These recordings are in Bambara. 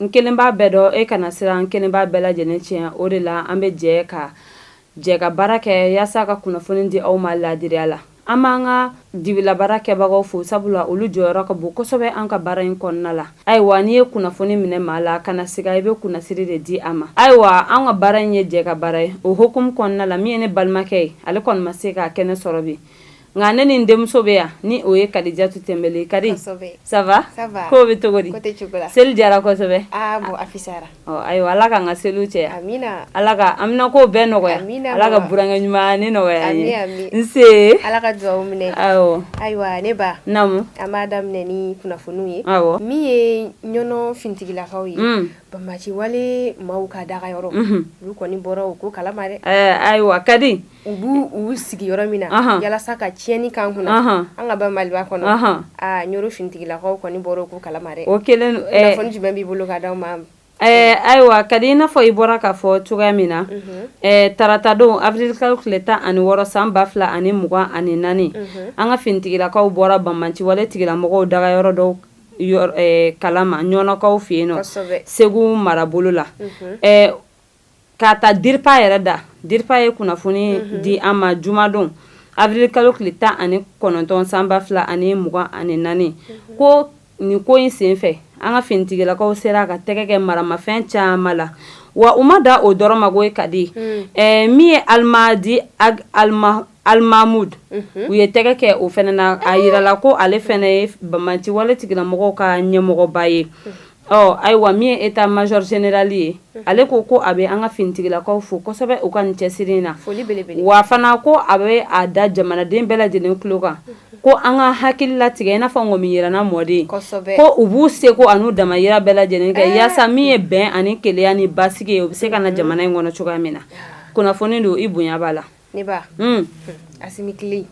n kelen b'a bɛɛ dɔn e kana siran n kelen b'a bɛɛ lajɛlen tiɲɛ o de la an bɛ jɛ ka jɛ ka baara kɛ yaasa ka kunnafoni di aw ma laadiriya la an b'an ka dibilabaarakɛbagaw fo sabula olu jɔyɔrɔ ka bon kosɛbɛ an ka baara in kɔnɔna la ayiwa n'i ye kunnafoni minɛ maa la kana siga i bɛ kunnasiri de di a ma ayiwa an ka baara in ye jɛkabaara ye o hukumu kɔnɔna la min ye ne balimakɛ ye ale kɔni ma se k'a kɛnɛ sɔrɔ bi nka ne ni n denmuso bɛ yan ni o ye kadijatu tɛnbɛli kadi ça va k'o bɛ cogo di seli diyara kosɛbɛ ayiwa ala k'an ka seliw caya ala ka amina ko bɛɛ nɔgɔya ala ka burankɛ ɲuman ni nɔgɔya an ye nse ala ka dugawu minɛ ayiwa ne ba naamu an b'a daminɛ ni kunnafoniw ye awɔ min ye ɲɔnɔ finitigilakaw ye mm. banbaganci wale maaw ka dagayɔrɔ olu kɔni bɔra u ko kalama dɛ ayiwa kadi U b'u uu sigi yɔrɔ min na walasa ka tiɲɛni k'an kunna an ka ba maliba kɔnɔ ɲɔnɔ finitigilakaw kɔni bɔra u ko kalama dɛ o kɛlen kunnafoni jumɛn b'i bolo ka di aw ma ɛɛ ayiwa kadi i n'a fɔ i bɔra k'a fɔ cogoya min na taratadon awirili kalo tile tan ani wɔɔrɔ san ba fila ani mugan ani naani an ka finitigilakaw bɔra banbaganci wale tigilamɔgɔw dagayɔrɔ dɔw kalama ɲɔnɔkaw fɛ yen nɔ segu marabolo la K'a ta diripa yɛrɛ da diripa ye kunnafoni di an ma jumadon awirili kalo tile tan ani kɔnɔntɔn san ba fila ani mugan ani naani ko nin ko in sen fɛ an ka finitigilakaw sera ka tɛgɛ kɛ maramafɛn caman la wa u ma da o dɔrɔn ma ko ye kadi min ye alimadi ali Alimamudu u ye tɛgɛ kɛ o fana na a jirala ko ale fana ye banbaganci wale tigilamɔgɔw ka ɲɛmɔgɔba ye ɔ ayiwa min ye etamazɔri zenerali ye ale ko ko a bɛ an ka finitigilakaw fo kosɛbɛ u ka nin cɛsiri in na wa fana ko a bɛ a da jamanaden bɛɛ lajɛlen tulo kan ko an ka hakili latigɛ i n'a fɔ ŋɔmi yiranna mɔden ko u b'u seko an'u damayira bɛɛ lajɛlen kɛ yaasa min ye bɛn ani kelenya ni basigi ye u bɛ se ka na jamana in kɔnɔ cogoya min na kunnafoni don i bonya b'a la Ne ba asimi tile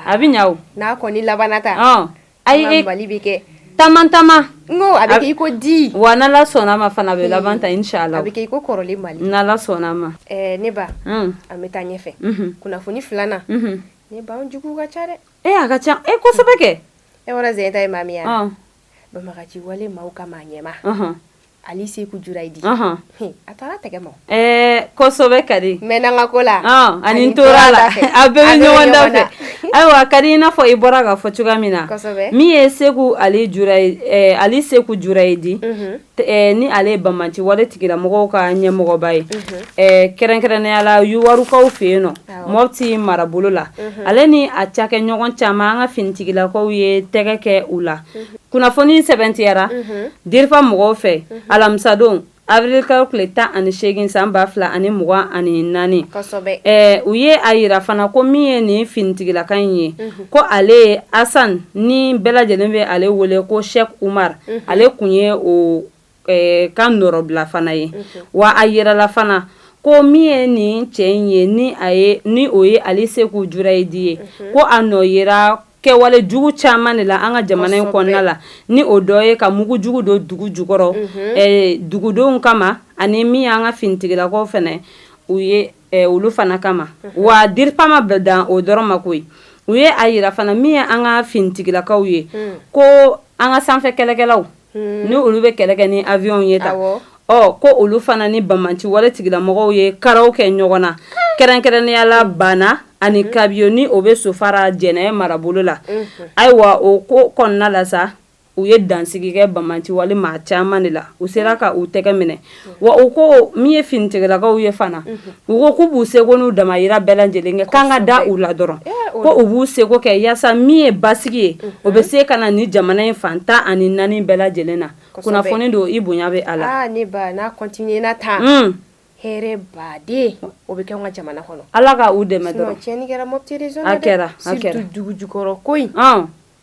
a bɛ ɲa n'a kɔni labanna ta ayi mali bɛ kɛ taama taama n ko a bɛ kɛ i ko di wa n'ala sɔnna ma fana a bɛ laban ta inshallah a bɛ kɛ i ko kɔrɔlen mali n'ala sɔnna ma ne ba an bɛ taa ɲɛfɛ kunnafoni filanan ne ba an jugu ka ca dɛ a ka ca ɛ kosɛbɛ kɛ e yɔrɔ z ta ye maa min yan banbaganci wale maaw ka maa ɲɛmaa ali seku jurayidi a taara tɛgɛ ma kosɛbɛ kadi mɛɛnna n ka ko la ani n tora a la a bɛɛ bɛ ɲɔgɔn dafɛ ayiwa kadi i n'a fɔ i bɔra k'a fɔ cogoya min na min ye seku ali ali seku jurayidi ni ale ye banbanci wale tigilamɔgɔw ka ɲɛmɔgɔba ye kɛrɛnkɛrɛnnenya la Yuwarukaw fɛ yen nɔ Mɔpti marabolo la ale ni a cakɛɲɔgɔn caman an ka finitigilakaw ye tɛgɛ kɛ u la kunnafoni sɛbɛntiyara diripa mɔgɔw fɛ alamisadon avril kalo tile tan ani segin san ba fila ani mugan ani naani u ye a yira fana ko min ye nin finitigilaka in ye ko ale ye asan ni bɛɛ lajɛlen bɛ ale wele ko Sheikh Umar ale kun ye o ka nɔrɔbila fana ye wa a yirala fana ko min ye nin cɛ in ye ni a ye ni o ye Ali Seku Jurayidi ye ko a nɔ yera kɛwale jugu caman de la an ka jamana in kɔnɔna la ni o dɔ ye ka mugu jugu don dugu jukɔrɔ dugudenw kama ani min y'an ka finitigilakaw fana u ye olu fana kama wa diripa ma bɛɛ dan o dɔrɔn ma koyi u ye a yira fana min ye an ka finitigilakaw ye ko an ka sanfɛ kɛlɛkɛlaw ni olu bɛ kɛlɛ kɛ ni avion ye ta ɔ ko olu fana ni banbanci wale tigilamɔgɔw ye karaw kɛ ɲɔgɔn na kɛrɛnkɛrɛnnenya la Bana ani Kabiyo ni o bɛ Sofara Jɛnɛ marabolo la ayiwa o ko kɔnɔna la sa u ye dansigi kɛ banbanci wale maa caman de la u sera ka u tɛgɛ minɛ wa u ko min ye finitigilakaw ye fana u ko k'u b'u seko n'u damayira bɛɛ lajɛlen kɛ k'an ka da u la dɔrɔn ko u b'u seko kɛ yaasa min ye basigi ye o bɛ se ka na ni jamana in fan tan ani naani bɛɛ lajɛlen na kunnafoni don i bonya bɛ a la ne ba n'a continuer na tan un hɛrɛ baaden o bɛ kɛ an ka jamana kɔnɔ Ala ka u dɛmɛ dɔrɔn sinon tiɲɛni kɛra Mɔpti region na dɛ a kɛra a kɛra surtout dugu jukɔrɔ ko in ɔn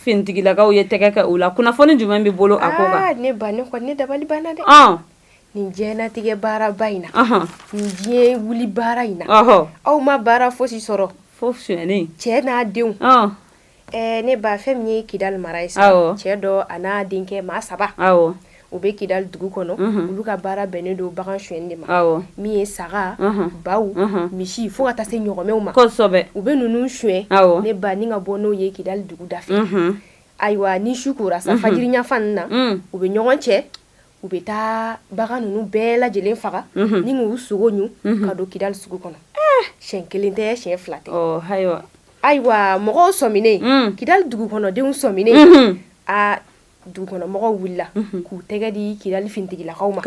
finitigilakaw ye tɛgɛ kɛ o la kunnafoni jumɛn b'i bolo a ko kan ah, ne ba ne kɔni ne dabali banna dɛ ah. nin diɲɛnatigɛ baaraba in na nin diɲɛ wuli baara in na aw ma baara fosi sɔrɔ fo suyɛni cɛ n'a denw ah. eh, ne ba fɛn min ye Kidal mara ye sa cɛ dɔ a n'a denkɛ maa saba u bɛ Kidal dugu kɔnɔ olu ka baara bɛnnen don bagan suyɛni de ma min ye saga baw misi fo ka taa se ɲɔgɔmɛw ma u bɛ ninnu suyɛn ne ba ni ka bɔ n'o ye Kidal dugu da fɛ ayiwa ni su kora sa fajiri ɲafan na u bɛ ɲɔgɔn cɛ u bɛ taa bagan ninnu bɛɛ lajɛlen faga ni k'u sogo ɲun ka don Kidal sugu kɔnɔ siyɛn kelen tɛ siyɛn fila tɛ ayiwa mɔgɔw sɔminen Kidal dugu kɔnɔdenw sɔminen aa dugukɔnɔmɔgɔw wulila k'u tɛgɛ di Kidali finitigilakaw ma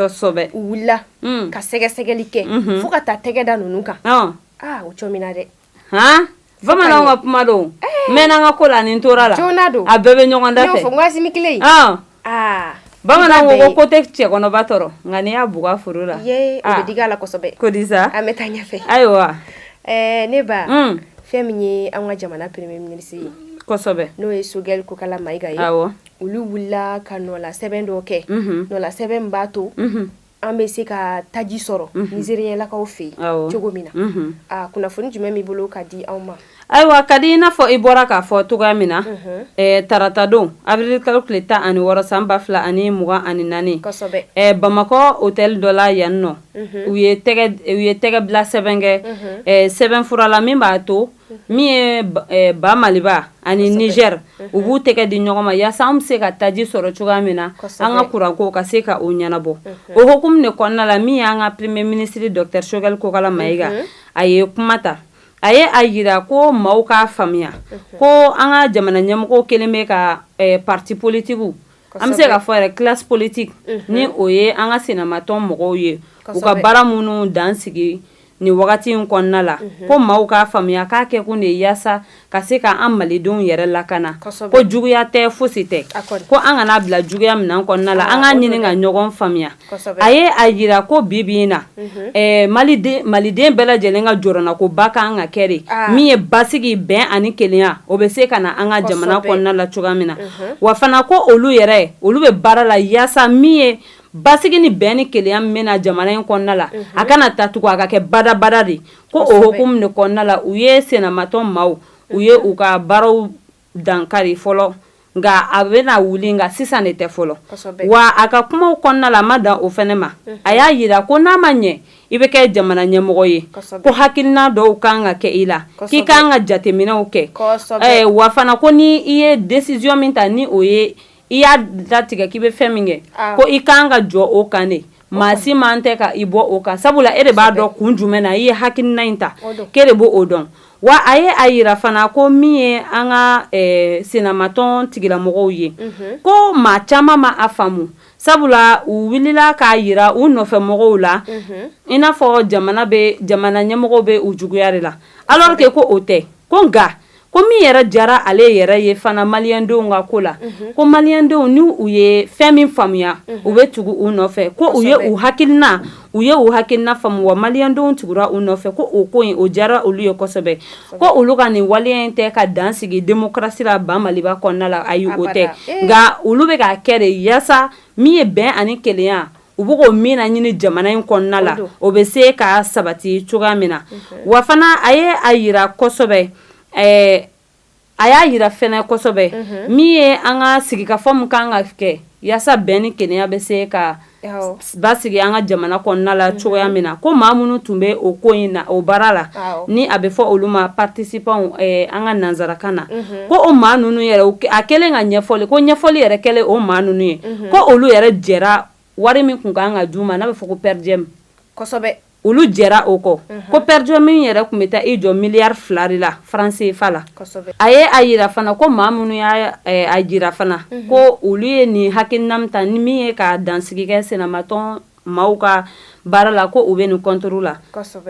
u wulila ka sɛgɛsɛgɛli kɛ fo ka taa tɛgɛ da ninnu kan aa o cogo min na dɛ h bamanan ka kuma don mɛnna an ka ko la nin tora la don a bɛɛ bɛ ɲɔgɔn da fɛ waati kelen aa bamanan ko ko tɛ cɛ kɔnɔba tɔɔrɔ nka n'i y'a bugɔ foro la o bɛ digi a la kosɛbɛ ko di sa an bɛ taa ɲɛfɛ ayiwa Ɛɛ ne ba fɛn min ye an ka jamana premier ministre ye n'o ye sogɛli kokala mayiga ye olu wulila ka nɔla sɛbɛn dɔ kɛ nɔla sɛbɛn b'a to an bɛ se ka taji sɔrɔ nizɛrilakaw fɛ yen cogo min na a kunnafoni jumɛn b'i bolo ka di anw ma ayiwa ka di i n'a fɔ i bɔra k'a fɔ cogoya min na taratadon awirilikalo tile tan ani wɔɔrɔ san ba fila ani mugan ani naani bamakɔ otɛli dɔ la yan nɔ u ye tɛgɛ bila sɛbɛn kɛ sɛbɛn fura la min b'a to min ye ba maliba ani nizɛri u b'u tɛgɛ di ɲɔgɔn ma yaasa an bɛ se ka taji sɔrɔ cogoya min na an ka kuranko ka se ka o ɲɛnabɔ o hukumu de kɔnɔna la min y'an ka premier ministre docteur sogɛli kokala mayiga a ye kuma ta a ye a yira ko maaw k'a faamuya ko an ka jamana ɲɛmɔgɔw kɛlen bɛ ka pariti politigiw an bɛ se k'a fɔ yɛrɛ kilasi politigi ni o ye an ka sinamatɔn mɔgɔw ye u ka baara minnu dan sigi nin wagati in kɔnɔna la ko maaw k'a faamuya k'a kɛ kun de yaasa ka se k'an malidenw yɛrɛ lakana ko juguya tɛ fosi tɛ ko an kana bila juguya minan kɔnɔna la an k'a ɲini ka ɲɔgɔn faamuya a ye a yira ko bi bi in na maliden bɛɛ lajɛlen ka jɔrɔnako ba kan ka kɛ de min ye basigi bɛn ani kelenya o bɛ se ka na an ka jamana kɔnɔna la cogoya min na wa fana ko olu yɛrɛ olu bɛ baara la yaasa min ye basigi ni bɛn ni kelenya min bɛna jamana in kɔnɔna la a kana taa tugun a ka kɛ badabada de ko o hukumu de kɔnɔna la u ye sinamatɔn maaw u ye u ka baaraw dankari fɔlɔ nka a bɛna wuli nka sisan de tɛ fɔlɔ wa a ka kumaw kɔnɔna la a ma dan o fɛnɛ ma a y'a yira ko n'a ma ɲɛ i bɛ kɛ jamana ɲɛmɔgɔ ye ko hakilina dɔw ka kan ka kɛ i la k'i ka kan ka jateminɛw kɛ wa fana ko n' i ye desisiyɔn min ta ni o ye I y'a datigɛ k'i bɛ fɛn min kɛ ko i kan ka jɔ o kan de maa si man tɛ ka i bɔ o kan sabula e de b'a dɔn kun jumɛn na i ye hakilina in ta k'e de b'o dɔn wa a ye a yira fana ko min ye an ka sinamatɔn tigilamɔgɔw ye ko maa caman ma a faamu sabula u wulila k'a yira u nɔfɛ mɔgɔw la i n'a fɔ jamana ɲɛmɔgɔw bɛ u juguya de la alors que ko o tɛ ko nka ko min yɛrɛ jara ale yɛrɛ ye fana maliyɛndenw ka ko la ko maliyɛndenw ni u ye fɛn min faamuya u bɛ tugu u nɔfɛ ko u ye u hakilina u ye u hakilina faamu wa maliyɛndenw tugura u nɔfɛ ko o ko in o jara olu ye kosɛbɛ ko olu ka nin waleya in tɛ ka dan sigi demokarasi la ba maliba kɔnɔna la ayi o tɛ nka olu bɛ k'a kɛ de yaasa min ye bɛn ani kelenya u bɛ ko min laɲini jamana in kɔnɔna la o bɛ se ka sabati cogoya min na wa fana a ye a jira kosɛbɛ a y'a jira fɛnɛ kosɛbɛ min ye an ka sigikafɔ min kan ka kɛ yaasa bɛn ni kelenya bɛ se ka basigi an ka jamana kɔnɔna la cogoya min na ko maa minnu tun bɛ o ko in na o baara la ni a bɛ fɔ olu ma participants an ka nanzarakan na ko o maa ninnu yɛrɛ a kɛlen ka ɲɛfɔli ko ɲɛfɔli yɛrɛ kɛlen o maa ninnu ye ko olu yɛrɛ jɛra wari min kun kan ka d'u ma n'a bɛ fɔ ko per diem olu jɛra o kɔ ko per diem min yɛrɛ kun bɛ taa i jɔ miliyari fila de la franc CFA la a ye a jira fana ko maa minnu y'a jira fana ko olu ye nin hakilina min ta ni min ye ka dansigi kɛ senamatɔn maaw ka baara la ko u bɛ nin contre la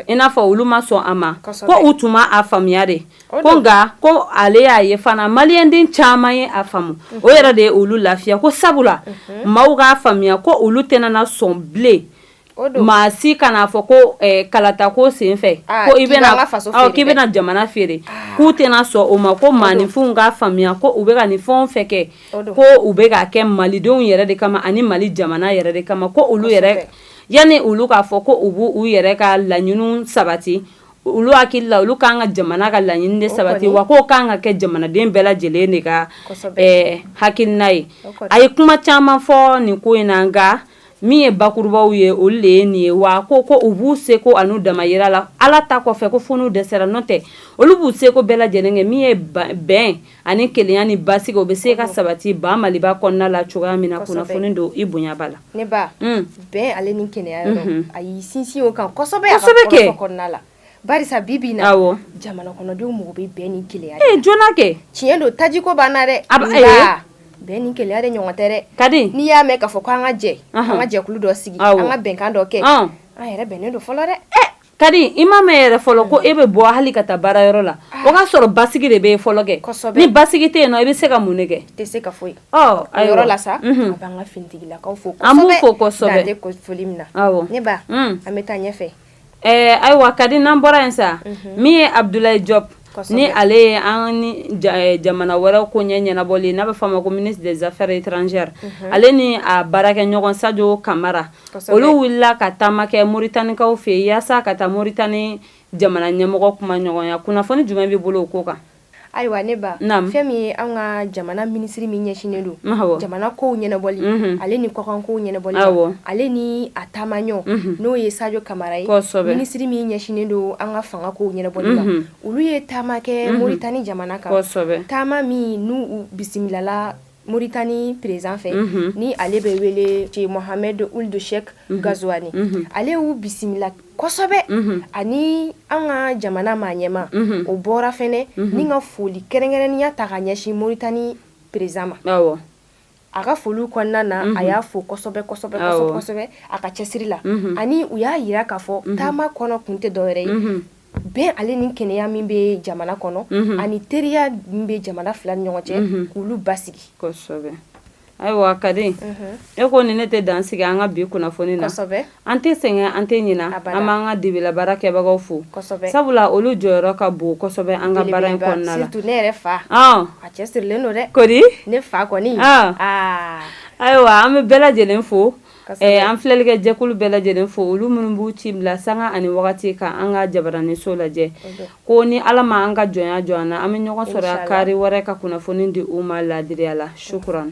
i n'a fɔ olu ma sɔn a ma ko u tun ma a faamuya de ko nka ko ale y'a ye fana maliyɛnden caman ye a faamu o yɛrɛ de ye olu lafiya ko sabula maaw k'a faamuya ko olu tɛna sɔn bilen maa si kan'a fɔ ko kalata ko senfɛ k'i bɛna jamana feere k'u tɛna sɔn o ma ko maaninfinw k'a faamuya ko u bɛ ka nin fɛn fɛ kɛ ko u bɛ k'a kɛ malidenw yɛrɛ de kama ani mali jamana yɛrɛ de kama ko olu yɛrɛ yanni olu k'a fɔ ko u b'u yɛrɛ ka laɲini sabati olu hakili la olu k'an ka jamana ka laɲini de sabati wa k'o kan ka kɛ jamanaden bɛɛ lajɛlen de ka hakilina ye a ye kuma caman fɔ nin ko in na nka min ye bakurubaw ye olu de ye nin ye wa ko u b'u seko an'u damayira la ala ta kɔfɛ ko fo n'u dɛsɛra n'o tɛ olu b'u seko bɛɛ lajɛlen kɛ min ye bɛn ani kelenya ni basigi o bɛ se ka sabati ba maliba kɔnɔna la cogoya min na kunnafoni don i bonya b'a la ne ba bɛn ale ni kelenya yɔrɔ a y'i sinsin o kan kosɛbɛ a ka kɔnɔna la barisa bibi na jamana kɔnɔdenw mago bɛ bɛn ni kelenya dɔrɔn na kɛ tiɲɛ don tajiko ban na dɛ a bɛn ni kelenya de ɲɔgɔn tɛ kadi n'i y'a mɛn k'a fɔ ko an ka jɛ an ka jɛkulu dɔ sigi an ka bɛnkan dɔ kɛ an yɛrɛ bɛnnen don fɔlɔ dɛ Kadi i ma mɛn yɛrɛ fɔlɔ ko e bɛ bɔ hali ka taa baarayɔrɔ la o k'a sɔrɔ basigi de bɛ fɔlɔ kɛ ni basigi tɛ yen nɔ i bɛ se ka mun de kɛ tɛ se ka foyi a yɔrɔ la sa an b'an ka finitigilakaw fo kosɛbɛ an b'u fo kosɛbɛ dan tɛ foli min na ne ba an bɛ taa ɲɛfɛ ɛɛ ayiwa kadi n'an bɔra yen sa min ye abudulayi jɔpu ni ale ye an ni jamana wɛrɛ koɲɛ ɲɛnabɔli ye n'a bɛ fɔ a ma ko ministre des affaires étrangères ale ni a baarakɛɲɔgɔn sajo kamara olu wulila ka taama kɛ moritanikaw fɛ yen yaasa ka taa moritani jamana ɲɛmɔgɔ kumaɲɔgɔnya kunnafoni jumɛn b'i bolo o ko kan ayiwa ne ba fɛn min ye an ka jamana minisiri min ɲɛsinnen don jamana ko ɲɛnabɔli ale ni kɔkan ko ɲɛnabɔli ale ni a taamaɲɔgɔn n'o ye sajo kamara ye minisiri min ɲɛsinnen don an ka fanga kow ɲɛnabɔli la olu ye taama kɛ moritani jamana kan taama min n' u bisimilala moritani perezidan fɛ ni ale bɛ wele cɛ mohamed ould cheikh ghazouani ale y'u bisimila kosɛbɛ ani an ka jamana maa ɲɛmaa o bɔra fɛnɛ ni ka foli kɛrɛnkɛrɛnnenya ta ka ɲɛsin moritani perezidan ma a ka foliw kɔnɔna na a y'a fo kosɛbɛ a ka cɛsiri la ani u y'a yira k'a fɔ taama kɔnɔ kun tɛ dɔwɛrɛ ye bɛn ale ni kɛnɛya min bɛ jamana kɔnɔ ani teriya min bɛ jamana fila ni ɲɔgɔn cɛ k'olu basigi ayiwa kadi e ko nin ne tɛ dan sigi an ka bi kunnafoni na An tɛ sɛgɛn an tɛ ɲina an b'an ka dibila baarakɛbagaw fo sabula olu jɔyɔrɔ ka bon kosɛbɛ an ka baara in kɔnɔna la ne yɛrɛ fa a cɛsirilen don dɛ ko ne fa kɔni ayiwa an bɛ bɛɛ lajɛlen fo an filɛlikɛ jɛkulu bɛɛ lajɛlen fo olu minnu b'u ci bila sanga ani wagati ka an ka jabaraniso lajɛ ko ni ala ma an ka jɔnya jɔ an na an bɛ ɲɔgɔn sɔrɔ kari wɛrɛ ka kunnafoni di u ma laadiriya la sukuran